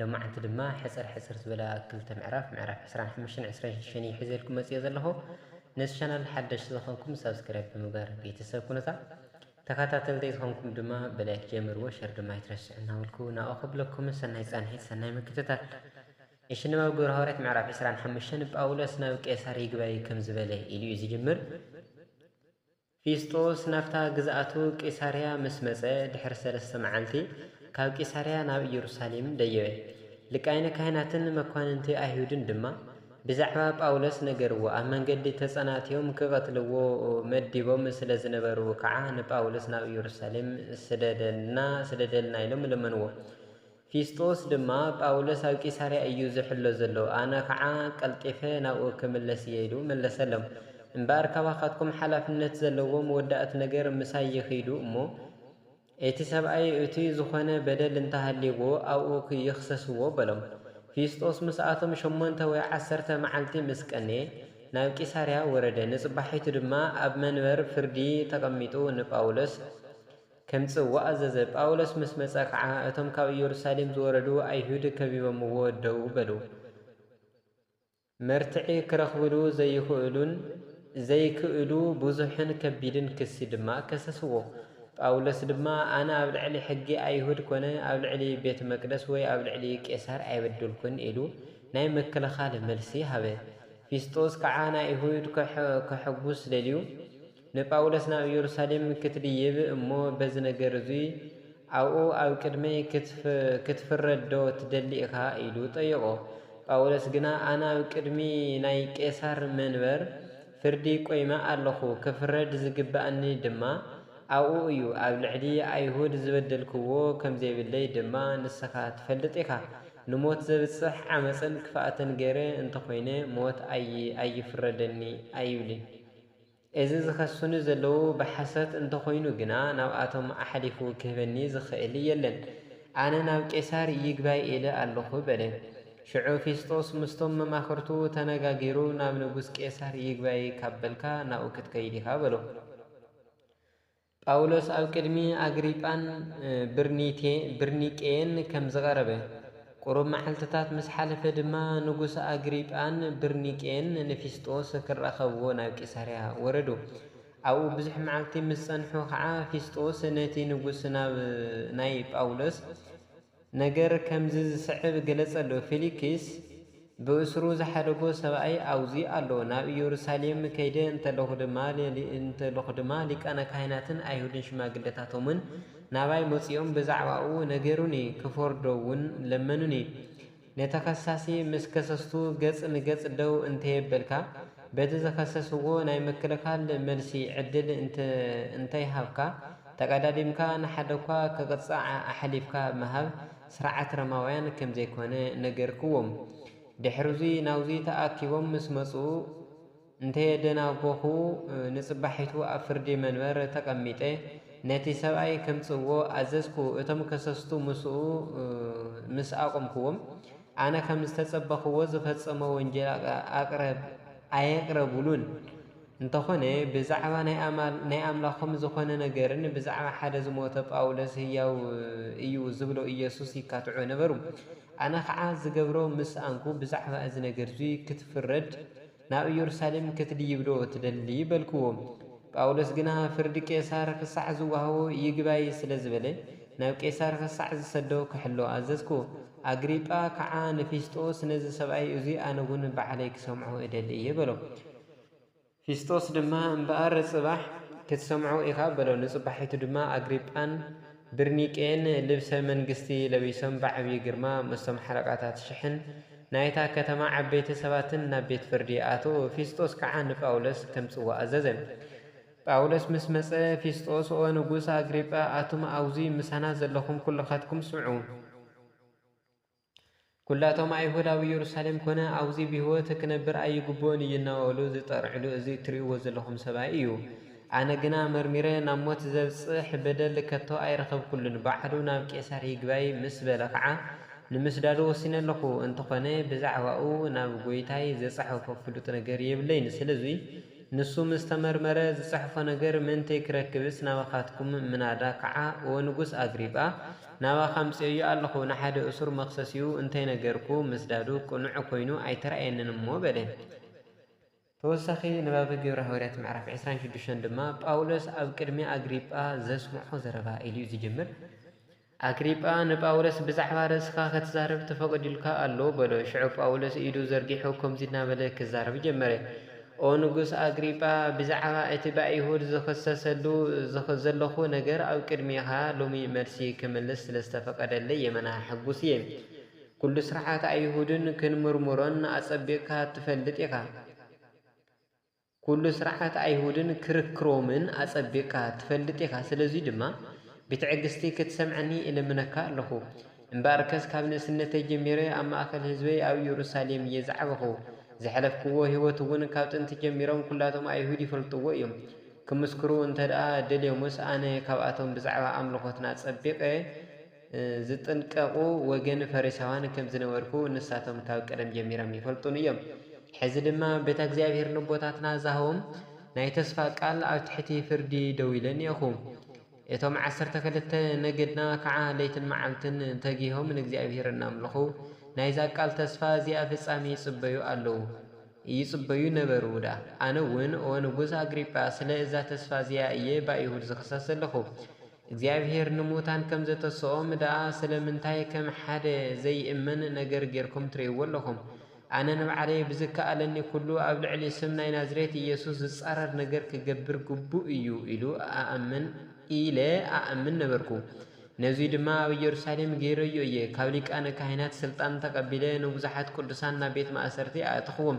ሎማዕንቲ ድማ ሕጽር ሕጽር ዝበላ ክልተ ምዕራፍ ምዕራፍ ዕስራን ሓሙሽተን ዕስራን ሽዱሽተን እየ ሒዘልኩም መጺኤ ዘለኹ ነዚ ቻናል ሓደሽቲ ዝኾንኩም ሳብስክራይብ ብምግባር ቤተሰብ ኩኑታ ተኻታተልተይ ዝኾንኩም ድማ ብላይክ ጀምርዎ ሸር ድማ ኣይትረስዑ እናበልኩ ናኦ ክብለኩም ሰናይ ጻንሒት ሰናይ ምክትታል እሺ ንባብ ግብረ ሃዋርያት ምዕራፍ ዕስራን ሓሙሽተን ጳውሎስ ናብ ቄሳር ይግባይ ከም ዝበለ ኢሉ እዩ ዝጅምር ፊስጦስ ናብታ ግዝኣቱ ቂሳርያ ምስ መጸ፣ ድሕሪ ሰለስተ መዓልቲ ካብ ቂሳርያ ናብ ኢየሩሳሌም ደየበ። ሊቃይነ ካህናትን መኳንንቲ ኣይሁድን ድማ ብዛዕባ ጳውሎስ ነገርዎ፣ ኣብ መንገዲ ተጸናትዮም ኪቐትልዎ መዲቦም ስለ ዝነበሩ ከኣ ንጳውሎስ ናብ ኢየሩሳሌም ስደደልና ስደደልና ኢሎም ለመንዎ። ፊስጦስ ድማ፣ ጳውሎስ ኣብ ቂሳርያ እዩ ዚሕሎ ዘሎ፣ ኣነ ኸኣ ቀልጢፈ ናብኡ ክምለስ እየ ኢሉ መለሰሎም። እምበኣር ካባኻትኩም ሓላፍነት ዘለዎም ወዳእት ነገር ምሳይ ይኺዱ እሞ፣ እቲ ሰብኣይ እቱይ ዝኾነ በደል እንተ ሃልይዎ ኣብኡ ይኽሰስዎ በሎም። ፊስጦስ ምስኣቶም ሸሞንተ ወይ ዓሰርተ መዓልቲ ምስ ቀነየ፣ ናብ ቂሳርያ ወረደ፣ ንጽባሒቱ ድማ ኣብ መንበር ፍርዲ ተቐሚጡ ንጳውሎስ፣ ከምጽእ ወኣዘዘ። ጳውሎስ ምስ መጸ ኸኣ፣ እቶም ካብ ኢየሩሳሌም ዝወረዱ ኣይሁድ ከቢበምዎ ደው በሉ። መርትዒ ክረኽብሉ ዘይኽእሉን ዘይክእሉ ብዙሕን ከቢድን ክሲ ድማ ከሰስዎ። ጳውሎስ ድማ፣ ኣነ ኣብ ልዕሊ ሕጊ ኣይሁድ ኰነ ኣብ ልዕሊ ቤት መቅደስ ወይ ኣብ ልዕሊ ቄሳር ኣይበደልኩን ኢሉ ናይ ምክልኻል መልሲ ሃበ። ፊስጦስ ከኣ ንኣይሁድ ከሐጕስ ደልዩ፣ ንጳውሎስ ናብ ኢየሩሳሌም ክትድይብ እሞ በዚ ነገር እዙይ ኣብኡ ኣብ ቅድመይ ክትፍረድዶ ትደሊ ኢኻ? ኢሉ ጠየቖ። ጳውሎስ ግና ኣነ ኣብ ቅድሚ ናይ ቄሳር መንበር ፍርዲ ቆይመ ኣለኹ፣ ክፍረድ ዝግብኣኒ ድማ ኣብኡ እዩ፣ ኣብ ልዕሊ ኣይሁድ ዝበደልክዎ ከም ዘይብለይ ድማ ንስኻ ትፈልጥ ኢኻ፣ ንሞት ዘብጽሕ ዓመጽን ክፍኣትን ገይረ እንተ ኾይነ ሞት ኣይፍረደኒ ኣይብልን። እዚ ዝኸሱኒ ዘለዉ ብሓሶት እንተኾይኑ ግና ናብኣቶም ኣሕሊፉ ክህበኒ ዝኽእል የለን። ኣነ ናብ ቄሳር ይግባይ ኢለ ኣሎኹ በለ። ሽዑ ፊስጦስ ምስቶም መማኽርቱ ተነጋጊሩ ናብ ንጉስ ቄሳር ይግባይ ካብ በልካ ናብኡ ክትከይድ ኢኻ በሎ። ጳውሎስ ኣብ ቅድሚ ኣግሪጳን ብርኒቄን ከም ዝቐረበ፣ ቁሩብ መዓልትታት ምስ ሓለፈ ድማ ንጉስ ኣግሪጳን ብርኒቄን ንፊስጦስ ክራኸብዎ ናብ ቂሳርያ ወረዱ። ኣብኡ ብዙሕ መዓልቲ ምስ ጸንሑ ኸኣ ፊስጦስ ነቲ ንጉስ ናብ ናይ ጳውሎስ ነገር ከምዚ ዝስዕብ ገለጸሉ፣ ፊሊክስ ብእስሩ ዝሓደጎ ሰብኣይ ኣብዙ ኣሎ፣ ናብ ኢየሩሳሌም ከይደ እንተለኹ ድማ ሊቃነ ካህናትን ኣይሁድን ሽማግለታቶምን ናባይ መጺኦም ብዛዕባኡ ነገሩኒ፣ ክፈርዶውን ለመኑኒ። ንተኸሳሲ ምስ ከሰስቱ ገጽ ንገጽ ደው እንተየበልካ፣ በቲ ዝኸሰስዎ ናይ ምክልኻል መልሲ ዕድል እንተይሃብካ፣ ተቐዳዲምካ ንሓደ'ኳ ክቕጻዕ ኣሕሊፍካ ምሃብ ስርዓት ሮማውያን ከም ዘይኮነ ነገርክዎም። ድሕር'ዚ ናብዚ ተኣኪቦም ምስ መጹ፣ እንተየደናጐኹ፣ ንጽባሒቱ ኣብ ፍርዲ መንበር ተቐሚጠ ነቲ ሰብኣይ ከምጽእዎ ኣዘዝኩ። እቶም ከሰስቱ ምስኡ ምስ ኣቖምኩዎም፣ ኣነ ከም ዝተጸበኽዎ ዝፈጸሞ ወንጀል ኣቕረብ ኣየቕረቡሉን። እንተኾነ ብዛዕባ ናይ ኣምላኾም ዝኾነ ነገርን ብዛዕባ ሓደ ዝሞተ ጳውሎስ ህያው እዩ ዝብሎ ኢየሱስ ይካትዑ ነበሩ። ኣነ ኸኣ ዝገብሮ ምስ ኣንኩ ብዛዕባ እዚ ነገርዚ ክትፍረድ ናብ ኢየሩሳሌም ክትድይብዶ ትደሊ? በልክዎ። ጳውሎስ ግና ፍርዲ ቄሳር ኽሳዕ ዝወሃቦ ይግባይ ስለ ዝበለ፣ ናብ ቄሳር ኽሳዕ ዝሰዶ ኽሕሎ ኣዘዝኩ። ኣግሪጳ ከዓ ንፊስጦስ ነዚ ሰብኣይ እዙይ ኣነውን ባዕለይ ክሰምዖ እደሊ እየ በሎ። ፊስጦስ ድማ እምበኣር ጽባሕ ክትሰምዖ ኢኻ በሎ። ንጽባሒቱ ድማ ኣግሪጳን ብርኒቄን ልብሰ መንግስቲ ለቢሶም ብዓብዪ ግርማ ምስቶም ሓለቓታት ሽሕን ናይታ ከተማ ዓበይቲ ሰባትን ናብ ቤት ፍርዲ ይኣትው፣ ፊስጦስ ከዓ ንጳውሎስ ከምጽዎ ኣዘዘ። ጳውሎስ ምስ መጸ፣ ፊስጦስ፣ ኦ ንጉሥ ኣግሪጳ፣ ኣቱም ኣውዙይ ምሳና ዘለኹም ኩልኻትኩም ስምዑ። ኵላቶም ኣይሁድ ኣብ ኢየሩሳሌም ኰነ ኣብዙይ ብሕይወት ክነብር ኣይግብኦን እዩ እናበሉ ዝጠርዕሉ እዚ እትርእይዎ ዘለኹም ሰብኣይ እዩ። ኣነ ግና መርሚረ ናብ ሞት ዘብጽሕ በደል ከቶ ኣይረኸብኩሉን። ባዕሉ ናብ ቄሳር ይግባይ ምስ በለ ኸዓ ንምስዳዱ ወሲነ ኣለኹ። እንተኾነ ብዛዕባኡ ናብ ጐይታይ ዝጸሓፎ ፍሉጥ ነገር የብለይን። ስለዙይ ንሱ ምስ ተመርመረ ዝጸሕፎ ነገር ምእንተይ ክረክብስ ናባኻትኩም ምናዳ ከኣ ኦ ንጉስ ኣግሪጳ ናባኻ ኣምጺኦዮ ኣሎኹ ንሓደ እሱር መኽሰሲኡ እንተ ነገርኩ ምስዳዱ ቅኑዕ ኮይኑ ኣይተራእየንን እሞ በለ። ተወሳኺ ንባብ ግብሪ ሃዋርያት ምዕራፍ ዕስራን ሽዱሽተን ድማ ጳውሎስ ኣብ ቅድሚ ኣግሪጳ ዘስምዖ ዘረባ ኢሉዩ ዝጅምር። ኣግሪጳ ንጳውሎስ፣ ብዛዕባ ርእስኻ ኽትዛረብ ተፈቒዱልካ ኣሎ፣ በሎ። ሽዑ ጳውሎስ ኢዱ ዘርጊሑ ከምዚ እናበለ ኺዛረብ ጀመረ፣ ኦ ንጉስ ኣግሪጳ፣ ብዛዕባ እቲ ብኣይሁድ ዝኽሰሰሉ ዘሎኹ ነገር ኣብ ቅድሜኻ ሎሚ መልሲ ኽምልስ ስለ ዝተፈቐደለይ የመና ሕጉስ እየ። ኵሉ ስርዓት ኣይሁድን ክንምርምሮን ኣጸቢቕካ እትፈልጥ ኢኻ። ኵሉ ሥርዓት ኣይሁድን ክርክ ሮምን ኣጸቢቕካ ትፈልጥ ኢኻ፣ ስለዙይ ድማ ብትዕግሥቲ ክትሰምዐኒ እልምነካ ኣሎኹ። እምበኣርከስ ካብ ንእስነተይ ጀሚረ ኣብ ማእከል ሕዝበይ ኣብ ኢየሩሳሌም እየ ዝዓበኹ፣ ዘሕለፍክዎ ሕይወት'ውን ካብ ጥንቲ ጀሚሮም ኵላቶም ኣይሁድ ይፈልጥዎ እዮም፣ ክምስክሩ እንተደኣ ደልዮምስ ኣነ ካብኣቶም ብዛዕባ ኣምልኾትና ጸቢቐ ዚጥንቀቑ ወገን ፈሪሳውያን ከም ዝነበርኩ ንሳቶም ካብ ቀደም ጀሚሮም ይፈልጡኒ እዮም። ሕዚ ድማ በታ እግዚኣብሔር ነቦታትና ዛህቦም ናይ ተስፋ ቃል ኣብ ትሕቲ ፍርዲ ደው ኢለ እኔኹ። እቶም ዓሰርተ ክልተ ነገድና ከዓ ለይትን መዓልትን ተጊሆም ንእግዚኣብሔር እናምልኹ ናይዛ ቃል ተስፋ እዚኣ ፍጻሜ ይጽበዩ ኣለዉ ይጽበዩ ነበሩ ውዳ። ኣነ እውን ኦ ንጉሥ ኣግሪጳ ስለ እዛ ተስፋ እዚኣ እየ ብኣይሁድ ዝኽሰስ ዘለኹ። እግዚኣብሄር ንሙታን ከም ዘተስኦም ደኣ ስለምንታይ ከም ሓደ ዘይእመን ነገር ጌርኩም ትርእይዎ ኣለኹም? ኣነ ንባዕለይ ብዝከኣለኒ ኩሉ ኣብ ልዕሊ ስም ናይ ናዝሬት ኢየሱስ ዝጻረር ነገር ክገብር ግቡእ እዩ ኢሉ ኣኣምን ኢለ ኣኣምን ነበርኩ። ነዙይ ድማ ኣብ ኢየሩሳሌም ገይረዮ እየ፣ ካብ ሊቃነ ካህናት ሥልጣን ተቐቢለ ንብዙሓት ቅዱሳን ናብ ቤት ማእሰርቲ ኣእተኽዎም፣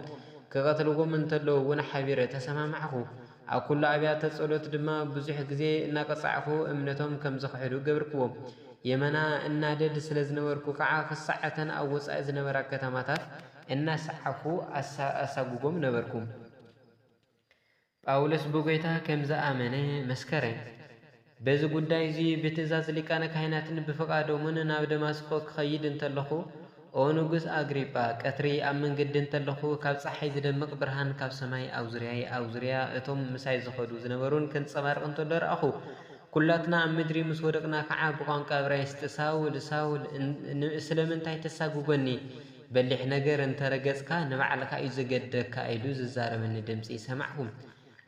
ክቐትልዎም እንተለዉ እውን ሓቢረ ተሰማማዕኩ። ኣብ ኩሉ ኣብያተ ጸሎት ድማ ብዙሕ ግዜ እናቀጻዕኩ እምነቶም ከም ዝኽሕዱ ገብርክዎም። የመና እናደድ ስለ ዝነበርኩ ከኣ ክሳዕ እተን ኣብ ወጻኢ ዝነበራ ከተማታት እናሰዓብኩ ኣሳጉጎም ነበርኩ። ጳውሎስ ብጐይታ ከም ዝኣመነ መስከረ። በዚ ጉዳይ እዚ ብትእዛዝ ሊቃነ ካህናትን ብፍቓዶምን ናብ ደማስቆ ክኸይድ እንተለኹ፣ ኦ ንጉስ ኣግሪጳ፣ ቀትሪ ኣብ መንገዲ እንተለኹ፣ ካብ ጸሓይ ዚደምቕ ብርሃን ካብ ሰማይ ኣብ ዙርያይ፣ ኣብ ዙርያ እቶም ምሳይ ዝኸዱ ዝነበሩን ኪንጸባረቕ እንተሎ ረኣኹ። ኵላትና ኣብ ምድሪ ምስ ወደቕና ከኣ ብቋንቋ እብራይስጢ፣ ሳውል፣ ሳውል፣ ስለምንታይ ተሳጕጐኒ? በሊሕ ነገር እንተ ረገጽካ፣ ንባዕልካ እዩ ዜገድደካ ኢሉ ዚዛረበኒ ድምጺ ሰማዕኩ።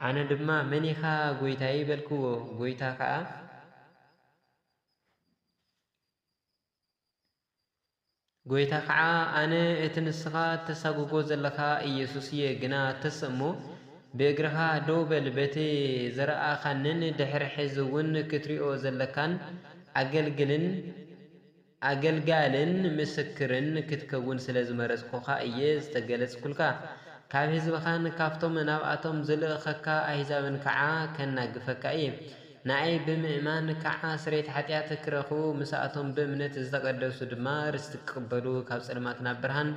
ኣነ ድማ መን ኢኻ ጐይታየ? በልክዎ። ጐይታ ከኣ ጐይታ ከኣ ኣነ እቲ ንስኻ እተሳጕጎ ዘለኻ ኢየሱስ እየ፣ ግና ተስ እሞ ብእግርኻ ደው በል፣ በቲ ዝረኣኻንን ድሕሪ ሕዚ እውን ክትሪኦ ዘለካን ኣገልግልን ኣገልጋልን ምስክርን ክትከውን ስለ ዝመረጽኩኻ እየ ዝተገለጽኩልካ። ካብ ህዝብኻን ካብቶም ናብኣቶም ዝልእኸካ ኣህዛብን ከዓ ከናግፈካ እየ። ንኣይ ብምእማን ከዓ ስርየት ሓጢኣት ክረኽቡ፣ ምስኣቶም ብእምነት ዝተቐደሱ ድማ ርስቲ ክቕበሉ፣ ካብ ጸልማት ናብ ብርሃን፣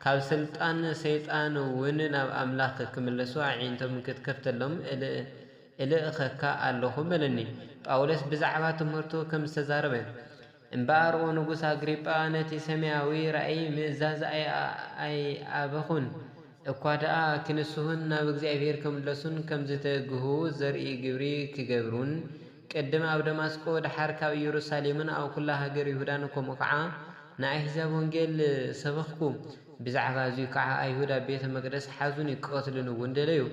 ካብ ስልጣን ሰይጣን'ውን ናብ ኣምላኽ ክምለሱ ኣዒንቶም ክትከፍተሎም እልእኸካ ኣሎኹ በለኒ። ጳውሎስ ብዛዕባ ትምህርቱ ከም ዝተዛረበ፣ እምበኣር ኦ ንጉስ ኣግሪጳ ነቲ ሰማያዊ ራእይ ምእዛዝ ኣይኣበኹን፣ እኳ ደኣ ኪንስሁን ናብ እግዚኣብሄር ኪምለሱን ከም ዚተግሁ ዘርኢ ግብሪ ኪገብሩን፣ ቅድም ኣብ ደማስቆ ደሓር ካብ ኢየሩሳሌምን ኣብ ኵላ ሃገር ይሁዳን ከምኡ ኸኣ ንኣሕዛብ ወንጌል ሰበኽኩ። ብዛዕባ እዙይ ከዓ ኣይሁድ ኣብ ቤተ መቅደስ ሓዙኒ ክቀትሉኒ እውን ደለዩ።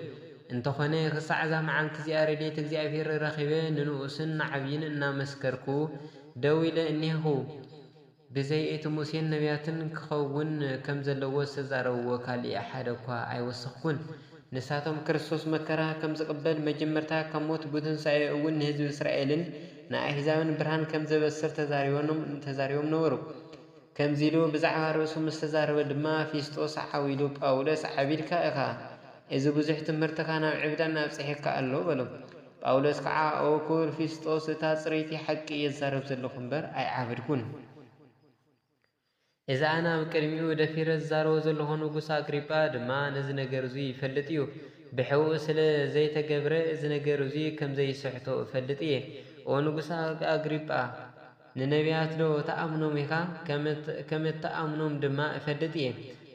እንተኾነ ክሳዕ እዛ መዓልቲ እዚኣ ረድኤት እግዚኣብሔር ረኺበ ንንኡስን ንዓብይን እናመስከርኩ ደው ኢለ እኔህኹ። ብዘይ እቲ ሙሴን ነብያትን ክኸውን ከም ዘለዎ ዝተዛረብዎ ካሊእ ሓደ እኳ ኣይወሰኽኩን። ንሳቶም ክርስቶስ መከራ ከም ዝቅበል መጀመርታ ካብ ሞት ብትንሣኤ እውን ንሕዝቢ እስራኤልን ንኣሕዛብን ብርሃን ከም ዘበስር ተዛሪቦም ነበሩ። ከምዚ ኢሉ ብዛዕባ ርእሱ ምስ ተዛረበ ድማ፣ ፊስጦስ ሓው ኢሉ፣ ጳውሎስ፣ ዓቢድካ ኢኻ፣ እዚ ብዙሕ ትምህርትኻ ናብ ዕብዳን ኣብጺሑካ ኣሎ፣ በሎ። ጳውሎስ ከኣ፣ ኦ ክቡር ፊስጦስ፣ እታ ጽርይቲ ሓቂ እየ ዝዛረብ ዘለኹ እምበር፣ ኣይዓበድኩን። እዚ ኣነ ኣብ ቅድሚኡ ደፊረ ዝዛረቦ ዘለኹ ንጉስ ኣግሪጳ ድማ ነዚ ነገር እዙይ ይፈልጥ እዩ፣ ብሕቡእ ስለ ዘይተገብረ፣ እዚ ነገር እዙይ ከም ዘይስሕቶ እፈልጥ እየ። ኦ ንጉስ ኣግሪጳ! ንነብያትዶ ትኣምኖም ኢኻ? ከም እትኣምኖም ድማ እፈልጥ እየ።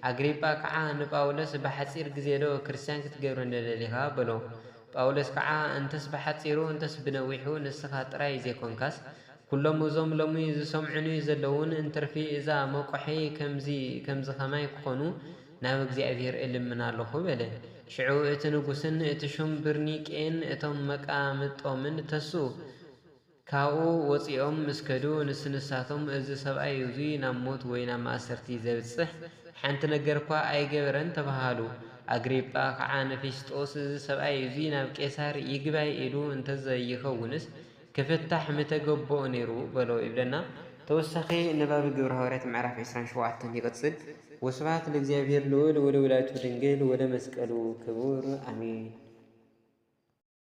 ኣግሪጳ ከዓ ንጳውሎስ ብሓጺር ግዜዶ ክርስትያን ክትገብረኒ ደሊኻ? በሎ። ጳውሎስ ከዓ እንተስ ብሓጺሩ እንተስ ብነዊሑ ንስኻ ጥራይ ዘይኮንካስ ኩሎም እዞም ሎሚ ዝሰምዑኒ ዘለዉን እንትርፊ እዛ መቁሐይ ከምዚ ከማይ ክኾኑ ናብ እግዚኣብሔር እልምን ኣሎኹ በለ። ሽዑ እቲ ንጉሥን እቲ ሹም ብርኒቄን እቶም መቃምጦምን ተስኡ። ካብኡ ወጺኦም ምስ ከዱ ንስንሳቶም እዚ ሰብኣይ እዙይ ናብ ሞት ወይ ናብ ማእሰርቲ ዘብጽሕ ሓንቲ ነገርኳ ኣይገበረን ተባሃሉ። ኣግሪጳ ኸዓ ንፊስጦስ እዚ ሰብኣይ እዙይ ናብ ቄሳር ይግባይ ኢሉ እንተዘይይኸውንስ ክፍታሕ ምተገበኦ ነይሩ በሎ ይብለና። ተወሳኺ ንባብ ግብረ ሃዋርያት ምዕራፍ ዕስራን ሸውዓተን ይቕጽል። ወስብሐት ለእግዚኣብሔር ልዑል ወለወላዲቱ ድንግል ወለመስቀሉ ክቡር ኣሜን።